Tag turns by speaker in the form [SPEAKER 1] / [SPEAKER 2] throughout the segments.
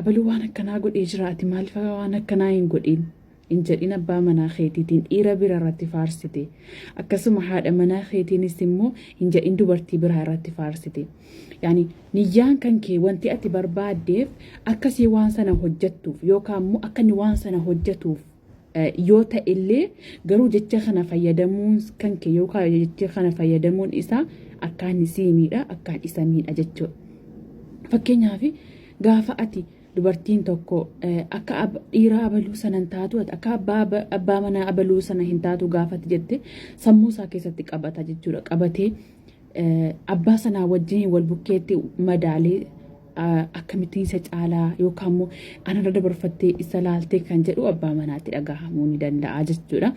[SPEAKER 1] Abalu waan akkanaa godhee jira ati maalfa waan akkanaa hin godhiin hin jedhin abbaa manaa keetiitiin dhiira bira irratti faarsite akkasuma haadha manaa keetiinis immoo hin jedhin dubartii biraa irratti faarsite yaani niyyaan kan kee wanti ati barbaaddeef akkasii waan sana hojjettuuf yookaan immoo akka inni waan sana hojjetuuf yoo ta'ellee garuu jecha kana fayyadamuun kanke yookaan jecha kana fayyadamuun isaa akkaan isii miidha akkaan isa miidha jechuudha. Fakkeenyaaf gaafa ati dubartiin tokko akka dhiiraa abaluu sana hin taatu akka abbaa manaa abaluu sana hin taatu gaafatti jette sammuu isaa keessatti qabata jechuudha qabatee abbaa sanaa wajjin wal bukkeetti madaalee akkamittiin isa caalaa yookaan immoo anarra dabarfattee isa laaltee kan jedhu abbaa manaatti dhagahamuu ni danda'a jechuudha.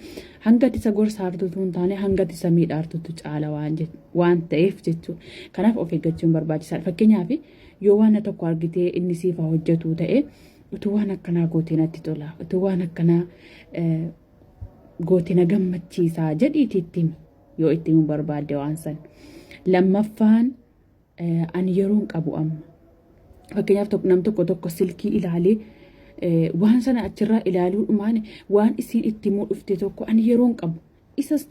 [SPEAKER 1] Hangati isa gorsaartutu hin taane hangati isa miidhaartutu caala waan ta'eef jechuudha. Kanaaf of eeggachuun barbaachisaadha. Fakkeenyaaf yoo waan tokko argitee inni siif haa hojjetu ta'e utuu waan akkanaa gootee natti tola utuu waan akkanaa gootee na gammachiisaa jedhiitii itti himi. yoo itti himuu barbaadde waan san. Lammaffaan ani yeroon qabu amma. Fakkeenyaaf nam tokko tokko silkii ilaalee waan sana achirraa ilaaluu dhumaan waan isiin itti himuu dhufte tokko ani yeroon qabu.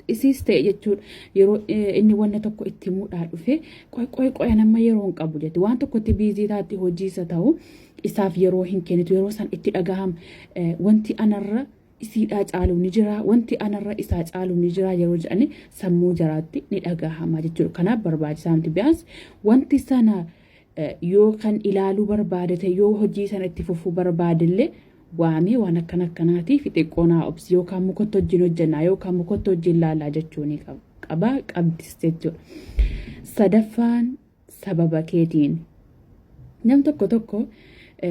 [SPEAKER 1] Isiis ta'e jechuudha yeroo inni wanna tokko itti himuudhaa dhufe qoy qoy qoy amma yeroon qabu jette waan tokkotti biizii taatti hojiisa ta'u isaaf yeroo hin kennitu yeroo san itti dhagahama wanti anarra isiidhaa caalu ni jira wanti anarra isaa caalu ni jira yeroo jedhani sammuu jaraatti ni dhagahama jechuudha kanaaf barbaachisaa miti biyaansi wanti sana eh, yoo kan ilaaluu barbaade ta'e yoo hojii sana itti fufuu barbaade illee waamee waan akkana akkanaatii fi xiqqoonaa obsi yookaan mukotti hojiin hojjennaa yookaan mukotti hojiin laalaa jechuu ni qab- qaba qabdis jechuudha sadaffaan sababa keetiin. Nam tokko tokko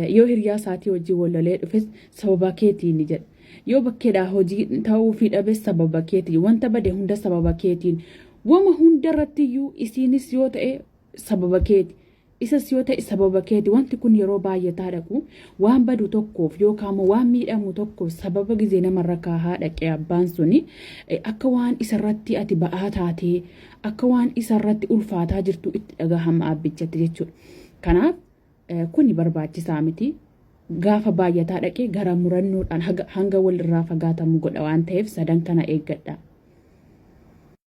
[SPEAKER 1] yoo hiriyaa isaatii hojii wallolee dhufes sababa keetiin ni jedha. Yoo bakkeedhaa hojii ta'uu fi dhabes sababa keetiin. Wanta bade hunda sababa keetiin. Wama hunda irratti iyyuu isiinis yoo ta'e sababa keeti. Isas yoo ta'e sababa keeti. Wanti kun yeroo baay'ataa dhaqu waan badu tokkoof yookaan immoo waan miidhamu tokkoof sababa gizee namarra kaahaa dhaqee abbaan suni akka waan isarratti ati ba'aa taatee akka waan isa irratti ulfaataa jirtu itti dhagahama abbichatti jechuudha. Kanaaf kuni barbaachisaa miti. Gaafa baay'ataa dhaqee gara murannoodhaan hanga walirraa fagaatamu godha waan ta'eef sadan kana eeggadha.